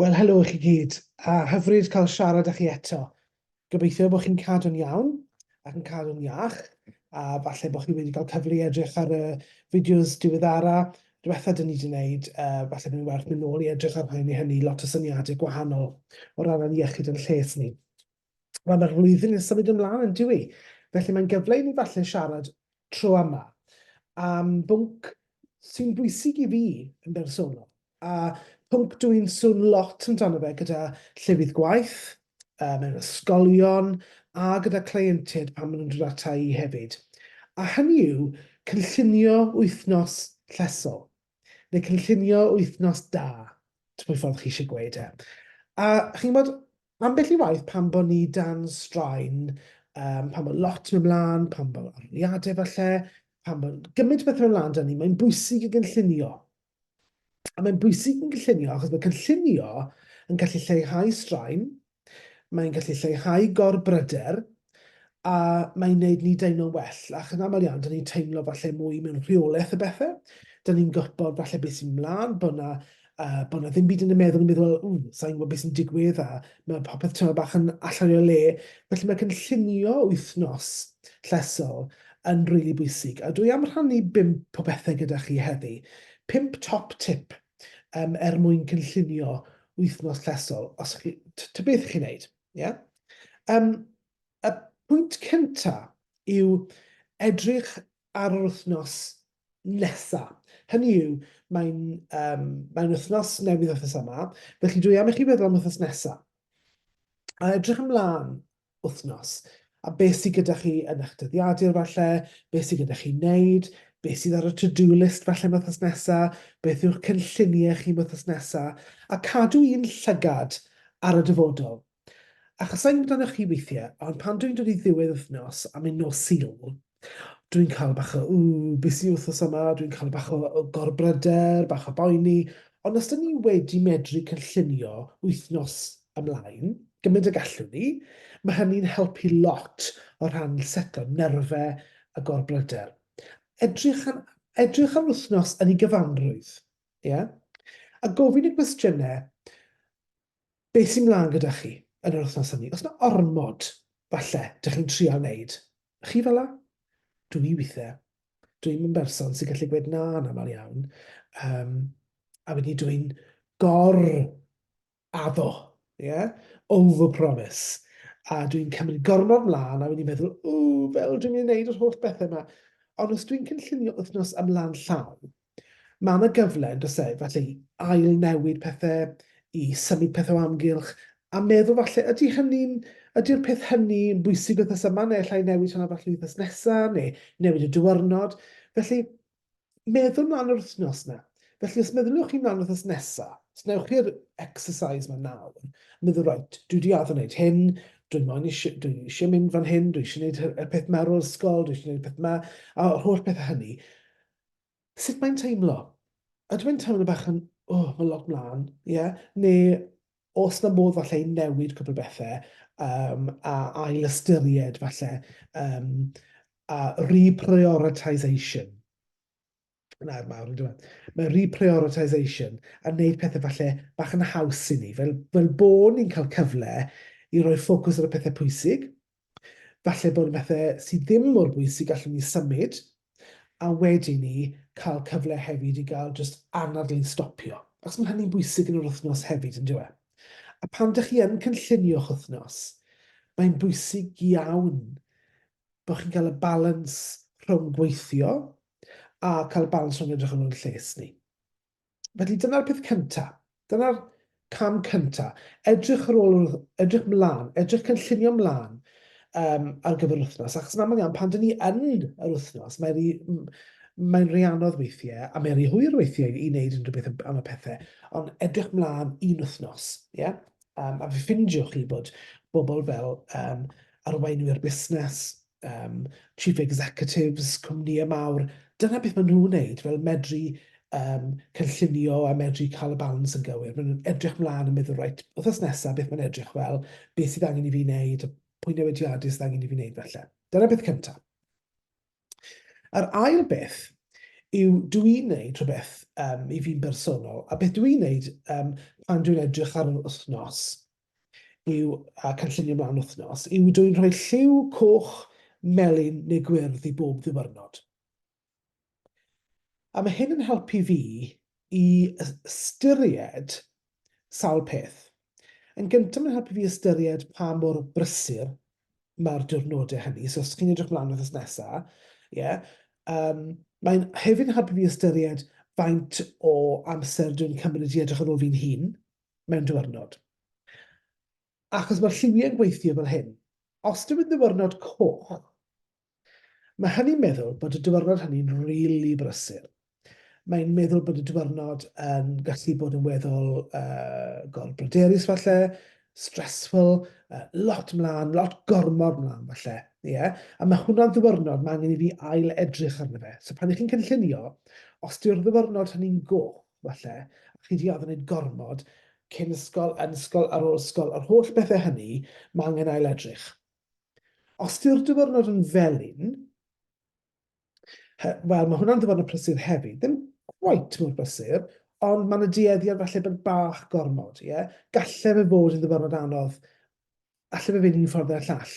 Wel, helo i chi gyd, a hyfryd cael siarad â chi eto. Gobeithio bod chi'n cadw'n iawn ac yn cadw'n iach, a falle bod chi wedi cael cyfle i edrych ar y fideos diweddara diwetha dyn ni wedi gwneud, uh, falle bod ni'n werth mynd nôl i edrych ar hyn i hynny, lot o syniadau gwahanol o ran ein iechyd yn lles ni. Wel, mae'r flwyddyn yn symud ymlaen yn diwy. Felly mae'n gyfle i ni falle siarad tro yma am bwnc sy'n bwysig i fi yn bersonol. A pwnc dw i'n swn lot amdano fe gyda llefydd gwaith, mewn ysgolion a gyda cleientiaid pan maen nhw'n dod ata i hefyd. A hynny yw cynllunio wythnos llesol. neu cynllunio wythnos da, ti'n gwybod ffordd chi eisiau gweud e. A chi'n gwybod, ambell i waith pan bod ni dan straen, um, pan bod lot yn ymlaen, pan bod arliadau falle, pan bod gymaint o bethau ymlaen dan ni, mae'n bwysig i gynllunio. A mae'n bwysig yn gynllunio achos mae cynllunio yn gallu lleihau straen, Mae'n gallu lleihau gorbryder a mae'n gwneud ni deimlo'n well, ac yn aml iawn, dyn ni'n teimlo falle mwy mewn rheolaeth y bethau. Dyn ni'n gwybod falle beth sy'n mlaen, bod na, uh, bod na ddim byd yn y meddwl yn meddwl, ww, sa'n gwybod beth sy'n digwydd, a mae popeth tymor bach yn allan o'i le. Felly mae cynllunio wythnos llesol yn rili really bwysig. A dwi am rhannu bimp o bethau gyda chi heddi. Pimp top tip um, er mwyn cynllunio wythnos llesol, os chi, ta beth chi'n neud. Yeah? Um, y pwynt cynta yw edrych ar yr wythnos nesa. Hynny yw, mae'n um, mae wythnos newydd wythnos yma, felly dwi am i chi feddwl am wythnos nesa. A edrych ymlaen wythnos. A beth sydd gyda chi yn eich dyddiadur falle, beth sydd gyda chi wneud, beth sydd ar y to-do list falle wythnos nesaf, beth yw'ch cynlluniau chi wythnos nesaf, a cadw un llygad ar y dyfodol. Achos sa'n amdanoch chi weithiau, ond pan dwi'n dod i ddiwedd wythnos am un nos Sul, Dwi'n cael bach o ww, beth sy'n wythnos yma, dwi'n cael bach o, o gorbryder, bach o boeni, ond os dyn ni wedi medru cynllunio wythnos ymlaen, gymaint y gallwn ni, mae hynny'n helpu lot o rhan setlo nerfau a gorbryder. Edrych ar, edrych ar wythnos yn ei gyfanrwydd, ie? Yeah? A gofyn y gwestiynau, beth sy'n mlaen gyda chi yn yr wythnos hynny. Os mae ormod, falle, dych chi'n trio wneud. Chi fel la? Dwi i weithiau. Dwi'n yn berson sy'n gallu gweud na yn aml iawn. Um, a wedyn dwi'n gor addo, yeah? over-promise. A dwi'n cymryd gormod mlaen a wedyn meddwl, o, fel dwi'n mynd i wneud yr holl bethau yma. Ond os dwi'n cynllunio wythnos ymlaen llawn, Mae 'na gyfle, yn does e, falle i ail-newid pethe, i symud pethe o amgylch, a meddwl falle, ydy hynny'n, ydy'r peth hynny yn bwysig wythnos yma, neu allai newid hwnna falle wythnos nesa, neu newid y diwrnod. Felly, meddwl mlaen yr wythnos na. Felly, os meddyliwch chi mlaen wythnos nesa, os newch chi'r exercise yma nawr, meddwl, rhaid, dwi wedi addo wneud hyn, dwi moyn eisiau, dwi eisiau mynd fan hyn, dwi eisiau gwneud y peth ma ar ôl ysgol, dwi eisiau gwneud y peth ma, a'r holl bethau hynny. sut mae'n teimlo? Ydw i'n teimlo bach yn, o, mae lot mlaen, ie? Neu os na modd falle i newid cwpl o bethau um, a ail ystyried falle um, a reprioritisation. Na'r mawr yn dweud. Mae reprioritisation a wneud pethau falle bach yn haws i ni, fel, fel bod ni'n cael cyfle i roi ffocws ar y pethau pwysig, Falle bod bethe sydd ddim mor bwysig gallwn ni symud, a wedyn ni cael cyfle hefyd i gael jyst anadl i stopio, achos mae hynny'n bwysig yn yr wythnos hefyd, yn dyw e? A pan dych chi yn cynllunio'ch wythnos, mae'n bwysig iawn bod chi'n cael y balans rhwng gweithio a cael y balans rhwng edrych ar ôl ein lles ni. Felly dyna'r peth cynta. Dyna'r cam cynta. Edrych ar ôl, edrych mlaen, edrych cynllunio mlaen um, ar gyfer yr wythnos. Achos yn aml iawn, pan dyn ni yn yr wythnos, mae'n rhi, mae'n rhi anodd weithiau, a mae'n rhi hwyr weithiau i wneud unrhyw beth am y pethau. Ond edrych mlaen un wythnos, ie? Yeah? Um, a fe ffindiwch chi bod bobl fel um, arweinwyr busnes, um, chief executives, cwmnïau mawr, dyna beth maen nhw'n wneud, fel medru um, cynllunio a medru cael y balans yn gywir. Maen nhw'n edrych mlaen yn meddwl, rhaid, wrthos nesaf, beth mae'n edrych fel, beth sydd angen i fi wneud, pwy newidiadau sydd angen i fi wneud felly. Dyna beth cyntaf. A'r ail beth yw dw i'n wneud rhywbeth um, i fi'n bersonol, a beth dw i'n wneud um, pan dwi'n edrych ar yr wythnos yw, a cynllunio mewn wythnos, yw dwyn rhoi lliw coch, melyn neu gwyrdd i bob ddiwyrnod. A mae hyn yn helpu fi i ystyried sawl peth. Yn gyntaf mae'n helpu fi ystyried pa mor brysur mae'r diwrnodau hynny. So os chi'n edrych mlaen wrth ysnesa, ie, yeah, um, mae'n hefyd yn helpu fi ystyried faint o amser dwi'n cymryd i edrych ar ôl fi'n hun, mewn diwrnod. Achos mae'r lliwiau'n gweithio fel hyn. Os dyw'n ddiwrnod coch, mae hynny'n meddwl bod y diwrnod hynny'n rili really brysur. Mae'n meddwl bod y diwrnod yn gallu bod yn weddol uh, gorbryderus falle, stressful, uh, lot mlaen, lot gormod mlaen falle. Yeah? A mae hwnna'n ddiwrnod mae angen i fi ail edrych arno fe. So pan ych chi'n cynllunio, os dyw'r ddiwrnod hynny'n goch, falle, a chi 'di addo neud gormod, cyn ysgol, yn ysgol, ar ôl ysgol, yr holl bethe hynny, ma' angen ail-edrych. Os yw'r diwrnod yn felyn, wel, mae hwnna'n ddiwrnod prysur hefyd, ddim quite mor brysur, ond mae yna dueddiad falle bod bach gormod, ie? Yeah? Gallai fe fod yn ddiwrnod anodd alle fe fynd un ffordd neu'r llall.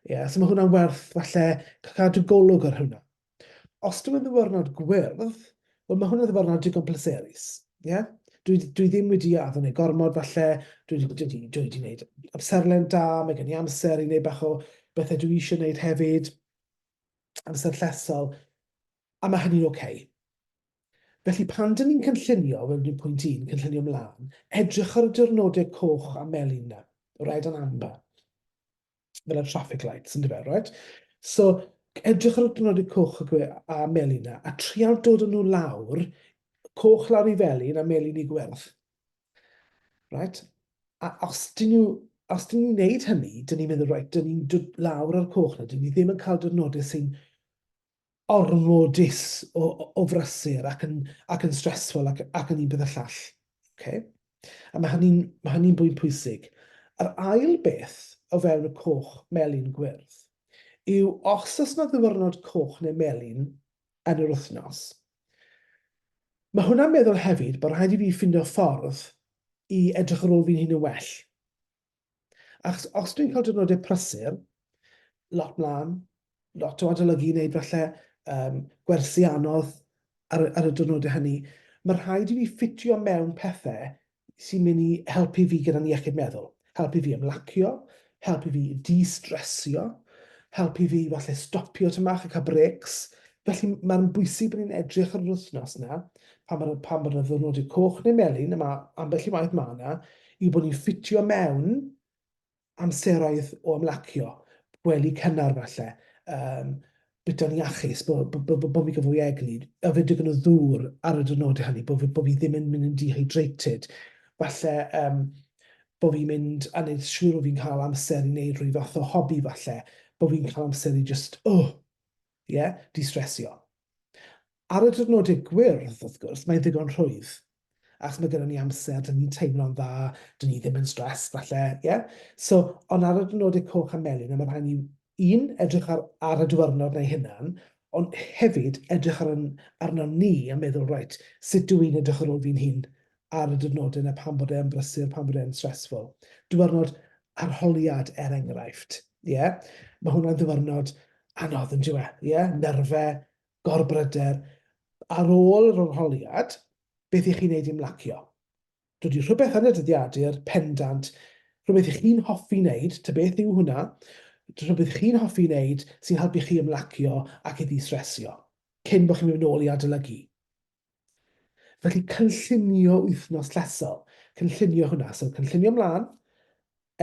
Ie, yeah, so mae hwnna'n werth falle cadw golwg ar hwnna. Os dwi'n ddiwrnod gwyrdd, wel mae hwnna'n ddiwrnod digon pleserus. Ie? Yeah? Dwi, dwi ddim wedi addo neu gormod falle, dwi wedi, dwi wedi, dwi wedi gwneud amserlen da, mae gen i amser i wneud bach o bethau dwi eisiau gwneud hefyd, amser llesol, a mae hynny'n oce. Okay. Felly, pan dŷn ni'n cynllunio, fel dwi'n pwynt un, cynllunio mlân, edrych ar y diwrnodau coch a melyn 'na, red and amber, fel y traffic lights, yn dyfe, right? So, edrych ar y diwrnodau coch a, gwe, a melyn 'na, a trial dod â nhw lawr, coch lawr i felyn a melyn i gwyrdd. Right? A os dyn nhw os dyn ni'n gwneud hynny, dyn ni'n meddwl, right, dyn ni'n dod lawr ar coch na, dyn ni ddim yn cael diwrnodau sy'n ormodus o, o frysur ac yn, ac yn stressful ac, ac yn un peth y llall. Okay? A mae hynny'n ma hynny bwynt pwysig. Yr ail beth o fewn y coch melyn gwyrdd yw os oes yna ddiwrnod coch neu melyn yn yr wythnos, mae hwnna'n meddwl hefyd bod rhaid i fi ffindo ffordd i edrych ar ôl fi'n hun yn well. Achos os dwi'n cael diwrnodau prysur, lot mlaen, lot o adolygu i wneud falle, um, gwersi anodd ar, ar y diwrnodau hynny, mae rhaid i fi ffitio mewn pethau sy'n mynd i helpu fi gyda'n iechyd meddwl. Helpu fi ymlacio, helpu fi di-stressio, helpu fi falle stopio tymach a cael breaks. Felly mae'n bwysig bod ni'n edrych ar yr wythnos yna, pan bod, pan bod y ddiwrnodau coch neu melyn, a mae ambell i waith mae yna, yw bod ni'n ffitio mewn amseroedd o ymlacio, gwely cynnar falle, um, bita'n iachus, bod bo, bo, bo, bo fi gyfwy egni, a fe digon o ddŵr ar y dynodau hynny, bod fi, bo fi ddim yn mynd yn dehydrated. Falle um, bod fi'n mynd a wneud siŵr bod fi'n cael amser i wneud rhyw fath o hobi falle, bod fi'n cael amser i just, oh, Ie, distresio. Ar y diwrnodau gwyrdd, wrth gwrs, mae'n ddigon rhwydd. Achos mae gyda ni amser, dyn ni'n teimlo'n dda, dyn ni ddim yn stressed falle, ie? So, ond ar y diwrnodau coch a melyn, a mae rhaid ni, un, edrych ar, ar y diwrnod na'i hunan, ond hefyd edrych ar, arno ni a meddwl, reit, sut dw i'n edrych ar ôl fi'n hun ar y diwrnodau 'na pan bod e yn brysur, pan bod e'n stressful. Diwrnod arholiad, er enghraifft. Ie? Mae hwnna'n ddiwrnod anodd yn diwe. Ie? Nerfe, gorbryder. Ar ôl yr arholiad, beth i chi wneud i mlacio? Dod i rhywbeth yn y dyddiadur, pendant, rhywbeth i chi'n hoffi wneud, ta beth yw hwnna, rhywbeth chi'n hoffi wneud sy'n helpu chi ymlacio ac i ddistresio, cyn bod chi'n mynd nôl i adolygu. Felly cynllunio wythnos llesol, cynllunio hwnna. So cynllunio mlaen,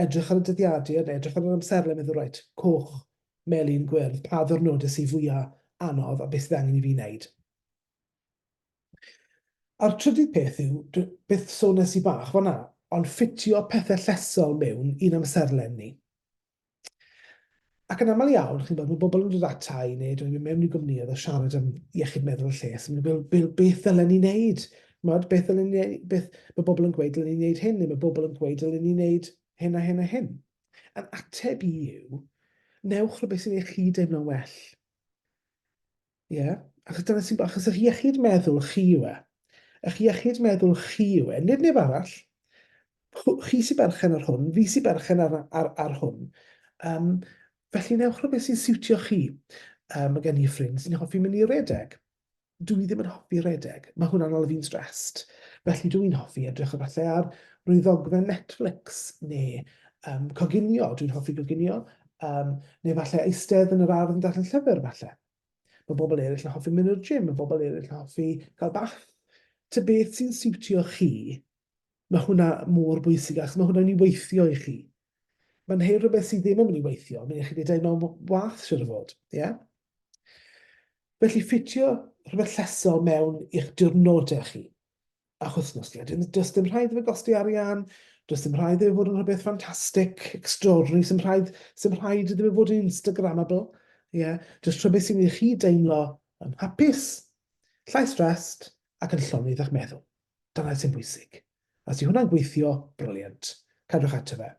edrych ar y dyddiadur, edrych ar yr amserlen, meddwl reit, coch, melyn, gwyrdd, pa ddwrnodau sydd fwya' anodd a beth sydd angen i fi wneud. A'r trydydd peth yw, beth sones i bach fan'na, ond ffitio pethe llesol mewn i'n amserlen ni. Ac yn aml iawn, chi'n bod, mae bobl yn dod ata i neu dwi'n mynd mewn i gwmnïau a siarad am iechyd meddwl y lles, yn meddwl, beth, beth ddylen ni wneud? Mod, beth ddylen ni wneud? Beth, mae bobl yn gweud dylen ni wneud hyn, neu mae bobl yn gweud dylen ni wneud hyn a hyn a hyn. A'n ateb i yw, newch rhywbeth sy'n eich chi deimlo'n well. Ie, yeah. achos dyna sy'n... Achos eich iechyd meddwl chi yw e. Eich iechyd meddwl chi yw e, nid neb arall. Chi sy'n berchen ar hwn, fi sy'n berchen ar, ar, ar hwn. Um, felly newch rhywbeth sy'n siwtio chi. Um, mae gen i ffrind sy'n hoffi mynd i redeg. Dw i ddim yn hoffi redeg. Mae hwnna'n ôl fi'n stressed. Felly dw i'n hoffi edrych o falle ar rhywbeth ddogfen Netflix neu um, coginio. Dwi'n hoffi coginio. Um, neu falle eistedd yn yr ardd yn darllen llyfr falle. Mae bobl eraill yn hoffi mynd i'r gym, mae bobl eraill yn hoffi cael bath. Ta beth sy'n siwtio chi, mae hwnna mor bwysig achos mae hwnna'n mynd i weithio i chi. Mae'n hyn rhywbeth sydd ddim yn mynd i weithio, mae'n eich dweud mewn wath sy'n o fod. Yeah? Felly ffitio rhywbeth llesol mewn i'ch diwrnodau chi. a'ch wythnos chi. Dim, does dim rhaid fe gosti arian, does dim rhaid iddo fod yn rhywbeth ffantastig, extraordinary, sy'n rhaid, sy'n rhaid iddo fod yn Instagrammable. Ie, yeah. does rhywbeth sy'n ei chi deimlo yn hapus, llai stressed ac yn llonydd a'ch meddwl. Dyna sy'n bwysig. A sy'n hwnna'n gweithio, briliant. Cadwch ato fe.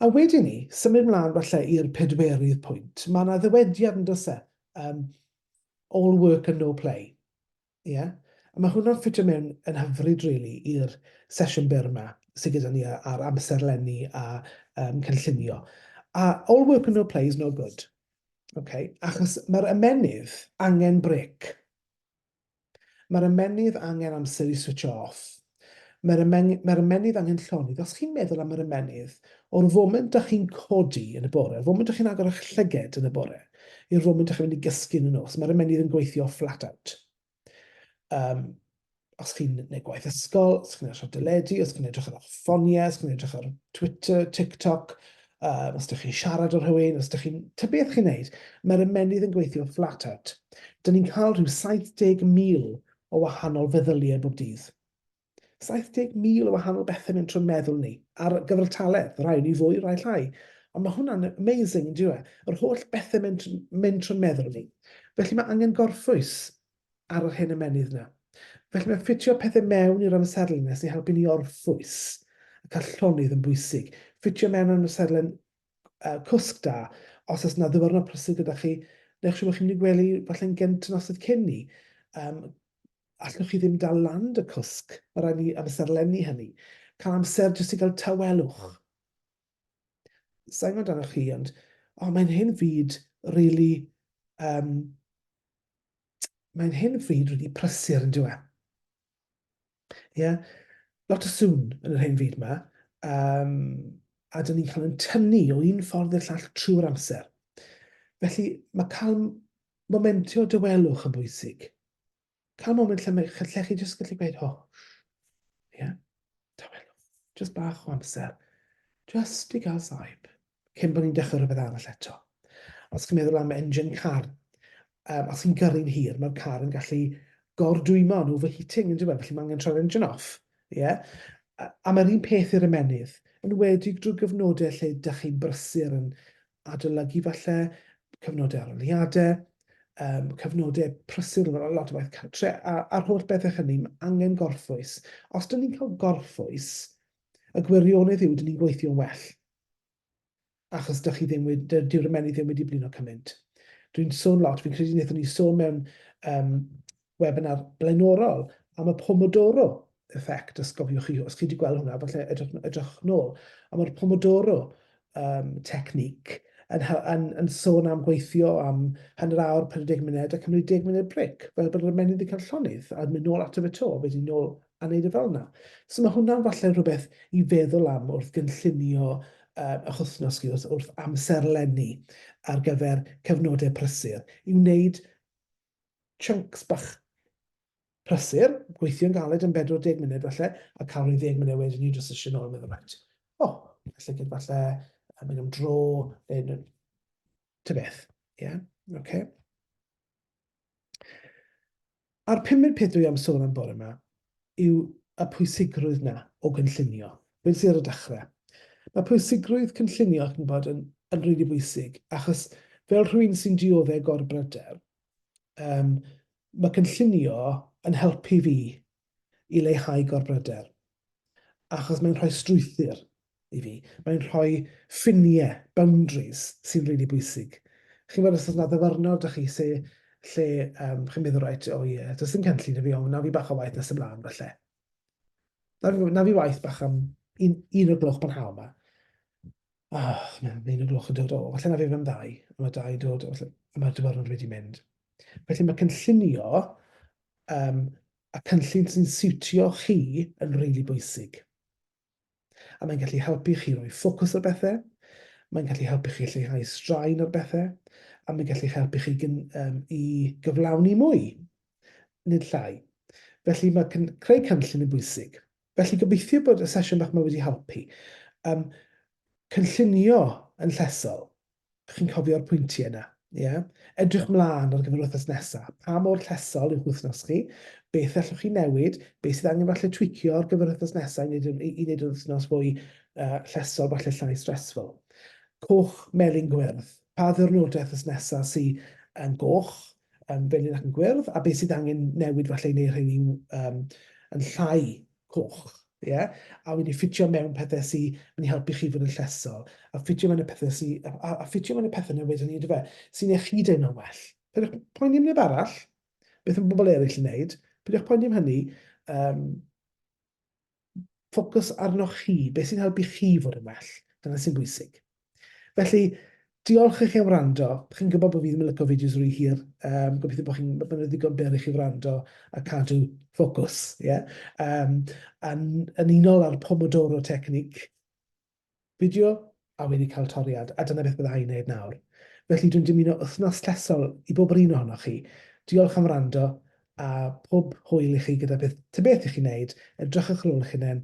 A wedyn ni, symud mlaen falle i'r pedwerydd pwynt. Mae yna ddywediad yn dys e, um, all work and no play. Yeah? A mae hwnna'n ffitio mewn yn hyfryd really, i'r sesiwn byr yma sydd gyda ni ar amser lenni a um, cynllunio. A all work and no play is no good. Okay? Achos mae'r ymenydd angen brec. Mae'r ymennydd angen amser i switsio off. Mae'r ymen, mae'r ymennydd angen llonydd. Os chi'n meddwl am yr ymennydd, o'r foment da chi'n codi yn y bore, o'r foment da chi'n agor eich llyged yn y bore, i'r foment da chi'n mynd i gysgu yn y nos, mae'r ymennydd yn gweithio flat out. Um, os chi'n gwneud gwaith ysgol, os chi'n edrych ar deledu, os chi'n edrych ar eich ffoniau, os chi'n edrych ar Twitter, TikTok, Uh, os ydych chi'n siarad â rhywun, os ydych chi'n... Ta beth chi'n neud, mae'r ymennydd yn gweithio flat out. Dyna ni'n cael rhyw 70,000 o wahanol feddyliau bob dydd. 70,000 o wahanol bethau mewn trwy'n meddwl ni, ar gyfartaledd, rhai ni fwy, rhai llai. Ond mae hwnna'n amazing, yn diwe? Yr holl bethau mewn, mewn trwy'n meddwl ni. Felly mae angen gorffwys ar yr hen ymennydd 'na. Felly mae ffitio pethau mewn i'r amserlen nes i helpu ni orffwys ac a llonydd yn bwysig. Ffitio mewn amserlen uh, cwsg da, os oes yna ddyfyrnod prysur gyda chi, neu chi'n chi'n mynd i gwely falle'n gynt yn nosydd cyn ni, um, allwch chi ddim dal land y cwsg, mae rhaid ni amserlenni hynny. Cael amser jyst i gael tawelwch. Sa'n gwybod amdanoch chi, ond oh, mae'n hyn o bryd really, um, mae'n hyn o bryd really prysur yn dweud. Ie, yeah? lot o sŵn yn yr hyn fyd yma, um, a dyn ni'n cael yn tynnu o un ffordd i'r llall trwy'r amser. Felly, mae cael momentio dywelwch yn bwysig. cael moment lle, mae, lle chi jyst gallu gweud, o, ie, yeah, tawelwch, jyst bach o amser, jyst i gael saib, cyn bod ni'n dechrau rhywbeth arall eto. Os chi'n meddwl am engine car, um, os chi'n gyrru'n hir, mae'r car yn gallu gordwymo yn overheating, yn dweud, felly mae angen troi'r engine off. Yeah? A, a mae'r un peth i'r ymenydd, yn wedi drwy gyfnodau lle ydych chi'n brysur yn adolygu falle, cyfnodau arholiadau, um, cyfnodau prysur, lot o waith cartre, a, a'r holl bethau hynny, mae angen gorffwys. Os dyn ni'n cael gorffwys, y gwirionedd yw, dyn ni'n gweithio'n well. Achos dych chi ddim wedi, dyw'r ymennydd ddim wedi blino cymaint. Dwi'n sôn lot, fi'n credu wnaethon ni sôn mewn um, webinar blaenorol am y Pomodoro effect, os gofiwch chi, os chi wedi gweld hwnna, falle edrych, edrych nôl, a mae'r Pomodoro um, technique yn, yn, yn sôn am gweithio am hanner awr, 40 munud, a cymryd 10 munud bric, fel bod yr ymennydd wedi cael llonydd, a mynd nôl ato fe to, wedyn nôl a wneud y e fel yna. So mae hwnna'n falle rhywbeth i feddwl am wrth gynllunio um, eich wythnos chi, wrth, wrth amserlenni ar gyfer cyfnodau prysur, i wneud chunks bach prysur, gweithio'n galed yn 40 munud falle, a cael rhyw ddeg munud wedyn i jyst eisiau nôl yn meddwl, right, o, oh, falle gyda falle yn mynd am dro, neu ty beth, ie, yeah? oce. Okay. A'r pumed peth dwi am sôn am bore yma, yw y pwysigrwydd 'na o gynllunio. Weles i ar y dechre. Mae pwysigrwydd cynllunio, chi'n gwybod, yn, yn rili really bwysig, achos fel rhywun sy'n diodde gorbryder, um, mae cynllunio yn helpu fi i leihau gorbryder, achos mae'n rhoi strwythyr i fi. Mae'n rhoi ffiniau, boundaries, sy'n rili really bwysig. Chi'n gwybod, os oes yna ddyfarnwr da chi se, lle um, chi'n meddwl, right, o oh ie, yeah, does dim cynllun i fi, ond na fi bach o waith nes ymlaen, falle. Na fi, na fi waith bach am un, un o'r gloch pan hael yma. Oh, mae'n un o'r gloch yn dod o, falle na fi fan ddau, a mae dau dod, falle, a mae'r dyfarnwr wedi mynd. Felly mae cynllunio um, a cynllun sy'n siwtio chi yn rili really bwysig. A mae'n gallu helpu chi roi ffocws ar bethau, mae'n gallu helpu chi lleihau straen ar bethau, a mae'n gallu helpu chi gyn, um, i gyflawni mwy, nid llai. Felly mae cyn, creu cynllun yn bwysig. Felly gobeithio bod y sesiwn bach yma wedi helpu. Um, cynllunio yn llesol. Dych chi'n cofio'r pwyntiau yna? Ie? Edrych mlaen ar gyfer yr wythnos nesaf. Pa mor llesol yw'ch wythnos chi? Beth allwch chi newid? Beth sydd angen falle twicio ar gyfer yr wythnos nesaf i wneud, yn, i wneud yr wythnos fwy uh, llesol, falle llai stressful? Coch, melyn, gwyrdd. Pa ddyrnodau wythnos nesaf sydd yn goch, yn felyn ac yn gwyrdd, a beth sydd angen newid falle i wneud rheini um, yn llai coch, ie? A wedi ffitio mewn pethau sy yn helpu chi fod yn llesol, a ffitio mewn y pethau sy... a, a, a ffitio mewn y pethau na wedyn ni, yndyfe, sy'n eich chi deimlo'n well. Peidiwch poeni am neb arall, beth yn bobl eraill yn wneud, peidiwch poeni am hynny, um, ffocws arnoch chi, beth sy'n helpu chi fod yn well, dyna sy'n bwysig. Felly, diolch i chi am wrando. Chi'n gwybod bod fi ddim yn licio fideos rhy hir. Um, gobeithio bod chi'n bod yn ddigon byr i chi wrando a cadw ffocws. Yeah? Um, yn, yn unol â'r Pomodoro technique, fideo a wedi cael toriad, a dyna beth byddai i'n neud nawr. Felly dwi'n dymuno wythnos llesol i bob yr un ohonoch chi. Diolch am wrando a pob hwyl i chi gyda beth, ty beth i chi'n neud, edrychwch ar ôl eich hunain